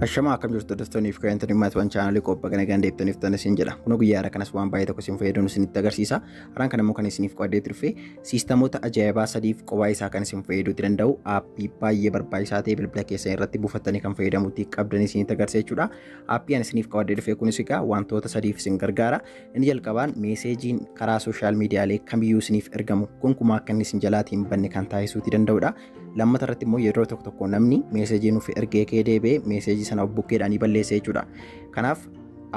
Ashamaa akkam jirtu hordoftoonni fi kaayyantoonni maatiiwwan chaanaalii qophaa kana ganda ibsaniif ta'an isin jedha. Kun guyyaa irraa kanas waan baay'ee tokko isin fayyaduu isinitti agarsiisa. Har'aan kan immoo kan isiniif qo'adee turfe siistamoota ajaa'ibaa sadiif qophaa isaa kan isin fayyaduu danda'u aappii baay'ee barbaachisaa ta'e bilbila keessan irratti buufattanii kan fayyadamuutti qabdan isinitti agarsiisa jechuudha. Aappii ani isiniif qo'adee dhufe kunis egaa wantoota sadiif isin gargaara. Inni jalqabaan meeseejiin karaa sooshaal miidiyaalee kamiyyuu isiniif ergamu gonkumaa akka inni isin jalaatiin banne kan taasisuuti danda'udha. lammata irratti immoo yeroo tokko tokko namni meeseejii nuuf ergee kee deebi'ee meeseejii sana of bukkeedhaan ni balleessa jechuudha. Kanaaf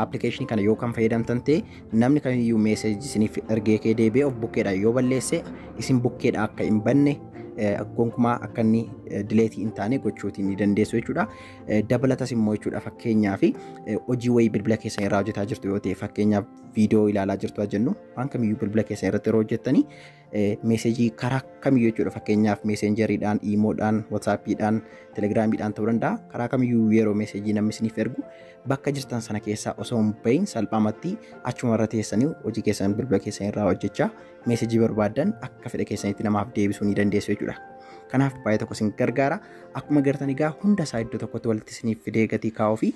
appilikeeshinii kana yoo kan fayyadamtan ta'e namni kamiyyuu meeseejii isiniif ergee kee deebi'ee of bukkeedhaan yoo balleesse isin bukkeedhaan akka hin banne gonkumaa akka inni dileetii hin taane gochuutiin ni dandeessu jechuudha. Dabalatas immoo jechuudha fakkeenyaaf hojii wayii bilbila keessan irraa hojjetaa jirtu yoo ta'e fakkeenyaaf viidiyoo ilaalaa jirtu jennu waan kamiyyuu bilbila keessan irratti yeroo hojjettanii meesejii karaa kamiyyuu jechuudha fakkeenyaaf meeseenjeriidhaan, iimoodhaan, whatsaappiidhaan, telegiraamiidhaan ta'uu danda'a karaa kamiyyuu yeroo meesejii namni isiniif ergu bakka jirtan sana keessaa osoo hin bahin salphaamatti achuma irra teessanii hojii keessan bilbila keessan irraa hojjechaa meesejii barbaadan akka fedha keessanitti namaaf deebisuu ni dandeessu jechuudha. Kanaaf baay'ee tokko isin gargaara. Akkuma gartan egaa hunda isaa iddoo tokkotti walitti isiniif fidee gatii kaa'uu fi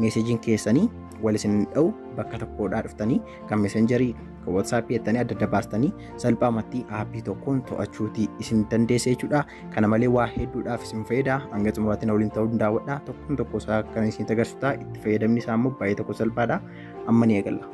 meeseejiin keessanii wal isin dha'u bakka tokkodhaa dhuftanii kan meesenjarii kan watsaappii jettanii adda adda baastanii salphaamatti aappii tokkoon to'achuuti isin dandeessa jechuudha. Kana malee waa hedduudhaaf isin fayyada. Hanga xumuraatti na waliin ta'uu hin daawwadha. Tokkoon tokko isaa kan isin agarsiisu ta'a. Itti fayyadamni isaa immoo baay'ee tokko salphaadha. Amma ni eegalla.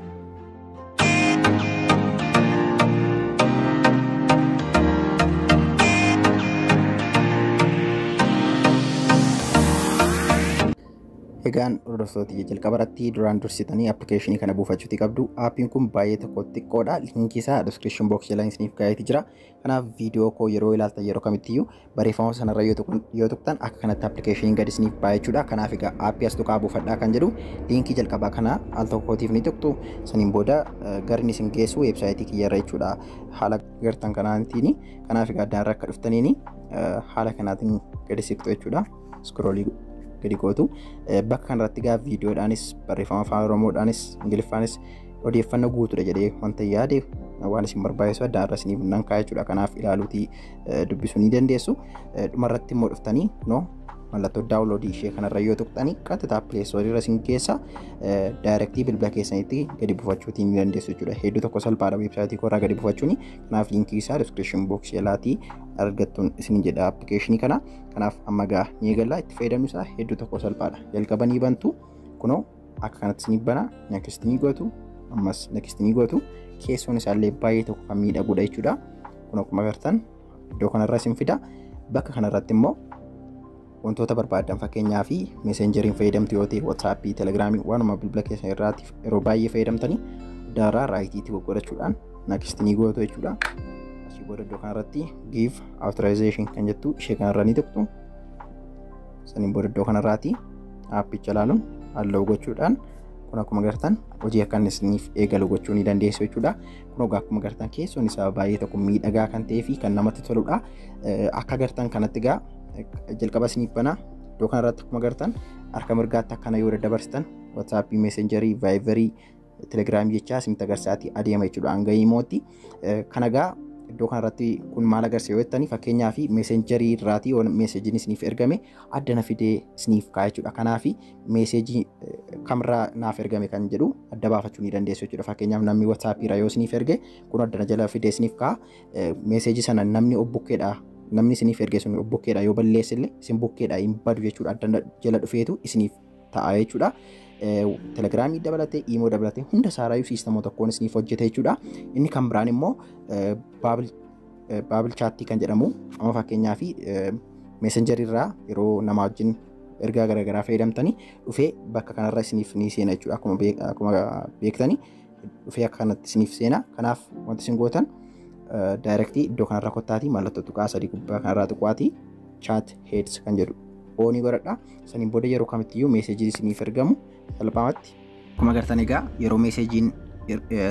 Egaan hordoftoota kiyya jalqaba irratti duraan dursitanii appilikeeshinii kana buufachuuti qabdu. Aappiin kun baay'ee tokko xiqqoodha. Liinkii isaa description box jala isiniif kaa'eeti jira. Kanaaf viidiyoo koo yeroo ilaaltan yeroo kamittiyyuu barreeffama sanarra yoo tuqan- yoo tuqxan akka kanatti appilikeeshiniin gad isiniif ba'a jechuudha. Kanaaf egaa aappii as tuqaa buufadhaa kan jedhu liinkii jalqabaa kana al tokkootiif ni tuqxu. Saniin booda eh, garni isin geessu weebsaayitii kiyyarra jechuudha. Haala gartan kanaatiin kanaaf egaa addaarra akka dhuftaniin eh, haala kanaatiin gadi siqxu jechuudha. iskroolii gadi gootu bakka kanarratti gaa viidiyoodhaanis barreeffama afaan oromoodhaanis ingiliffaanis odeeffannoo guutuudha jedhee wanta yaade waan isin barbaachisu adda irra isiniif nan kaa'e jechuudha kanaaf ilaaluutii dubbisuu ni dandeessu dhumarratti immoo dhuftanii noo mallattoo daawunloodii ishee kanarra yoo tuqxanii qaxxataa pileesoorii irra isin keessa daayirektii bilbila keessanitti gadi buufachuutii ni dandeessu jechuudha hedduu tokko salphaadha weebsaayitii koorraa gadi buufachuuni kanaaf liinkii isaa diskiripshin booksii jalaatii argattuun isin jedha appilikeeshinii kana Kanaaf amma gaa ni eegalla itti fayyadamni isaa hedduu tokko salphaadha. Jalqaba ni bantu kunoo akka kanatti ni bana next ni gootu ammas next ni gootu keessoon isaallee baay'ee tokko kan miidhagudha jechuudha. Kun akkuma agartan iddoo kanarra isin fida bakka kanarratti immoo wantoota barbaadan fakkeenyaa fi meeseenjeriin fayyadamtu yoo ta'e watsaappii telegiraamii waanuma bilbila keessan irraatiif yeroo baay'ee fayyadamtanii daaraa raayitii itti goggorachuudhaan next ni gootu jechuudha. Asii booda iddoo kanarratti give authorization kan jettu ishee kanarra ni tuqxu. Saniin booda iddoo kanarraati aappicha ilaaluun halluu gochuudhaan kun akkuma gartan hojii akka inni isiniif eegalu gochuu ni dandeessu jechuudha. Kun egaa akkuma gartan keessoon isaa baay'ee tokko miidhagaa kan ta'ee fi kan namatti toludha. Akka gartan kanatti egaa jalqaba isiniif banaa iddoo kanarratti akkuma gartan harka mirgaatti akkana yoo daddabarsitan WhatsApp, Messenger, Viber telegiraamii jechaa isinitti agarsiisaati adeema jechuudha hanga imootti. Kana egaa iddoo kanarratti kun maal agarsiisa yoo jettanii fakkeenyaa fi meesenjarii irraatii yoo meeseejiin isiniif ergame adda na fidee isiniif kaa'e jechuudha. Kanaaf meeseejii kamirraa naaf ergame kan jedhu adda baafachuu ni dandeessu jechuudha. Fakkeenyaaf namni WhatsApp irra yoo isiniif erge kun adda na jala fidee isiniif kaa'a. Meeseejii sana namni obbukkeedha namni isiniif erge sun obbukkeedha yoo balleessillee isin bukkeedha hin badu jechuudha adda jala dhufeetu isiniif ta'a jechuudha. Telegiraamii dabalatee, iimoo dabalatee hunda isaaraayyuu siistamoo tokkoon isiniif hojjeta jechuudha. Inni kan biraan immoo baabil chaattii kan jedhamu amma fakkeenyaa fi meesenjarii irraa yeroo namaa wajjin ergaa garaagaraa fayyadamtanii dhufee bakka kanarra isiniif ni seena jechuudha. Akkuma beektanii dhufee akka kanatti isiniif seena kanaaf wanti isin gootan daayirektii iddoo kanarra kottaatii mallattoo tuqaa sadii gubbaa kanarraa tuqaatii chaat heeds kan jedhu oonii godhadha saniin booda yeroo kamittiyyuu meeseejiin isiniif ergamu salphaamatti akkuma agartan egaa yeroo meeseejiin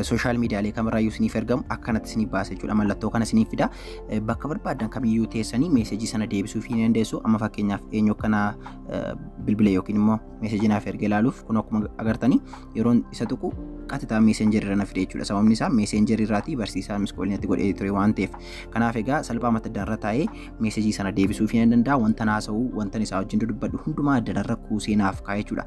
sooshaal miidiyaalee kamirraayyuu isiniif ergamu akkanatti isiniif baasa jechuudha mallattoo kana isiniif fida bakka barbaadan kamiyyuu teessanii meeseejii sana deebisuuf hin dandeessu amma fakkeenyaaf eenyu akkana bilbila yookiin immoo meeseejii naaf erga ilaaluuf kun akkuma agartanii yeroon isa tuqu qaxxitaa meeseenjerii irra na fide jechuudha. Sababni isaa meeseenjerii irraatii barsiisaa miskoolii natti godhee ture waan ta'eef. Kanaaf egaa salphaa mata duree irra taa'ee meesejii sana deebisuuf hin danda'a. Wanta haasa'u, wanta isaa wajjin dubbadhu hundumaa dalarra kuusee naaf kaa'e jechuudha.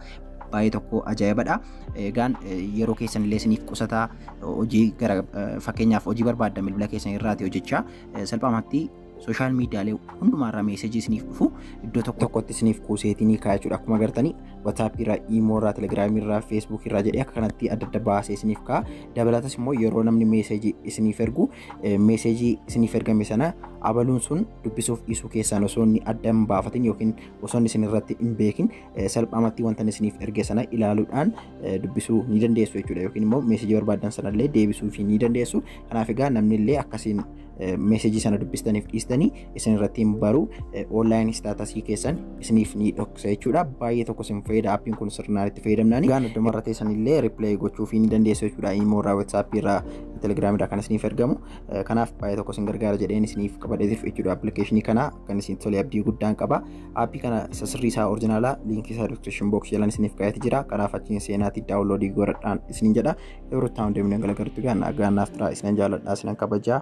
Baay'ee tokko ajaa'ibadha. Egaan yeroo keessan illee isiniif qusataa hojii gara fakkeenyaaf hojii barbaaddan bilbila keessan irraati hojjechaa salphaamatti sooshaal miidiyaalee hundumaarraa meesajii isiniif dhufu iddoo tokko tokkotti isiniif kuuseetinii kaa'aa jechuudha. Akkuma agartanii WhatsApp irraa, Imo irraa, Telegram irraa, Facebook irraa jedhee akka kanatti adda adda baasee isiniif kaa'a. Dabalatas immoo yeroo namni meesajii isiniif ergu meesajii isiniif ergame sana abaluun sun dubbisuuf dhiisuu keessaan osoo inni adda hin baafatin yookiin osoo inni isinirratti hin beekin salphaamatti wanta inni isiniif erge sana ilaaluudhaan dubbisuu ni dandeessu jechuudha. Yookiin immoo meesajii barbaadan sanallee deebisuuf ni dandeessu. Kanaaf egaa namni illee akkasiin meesejii sana dubbistaniif dhiistanii isin irratti hin baru online staatasii keessan isiniif ni dhoksa jechuudha baay'ee tokko isin fayyada appiin kun sirnaan itti fayyadamnaan gaan adduma irra teessan illee riplay gochuuf ni dandeessu jechuudha immoo irraa whatsapp irraa telegram irraa kan isiniif ergamu kanaaf baay'ee tokko isin gargaara jedheen isiniif qabadheetiif jechuudha appilikeeshinii kana kan isin tolee abdii guddaan qaba appii kana isa sirrii isaa orjinaalaa liinkii isaa description box jalaan isiniif kaa'eeti jira kanaaf achiin seenaati daawunloodii godhadhaan isiniin jedha Yoo ruttaa hundee miidhan galagaltu gaa nagaa naaf turaa isinan jaaladhaa isinan kabajaa.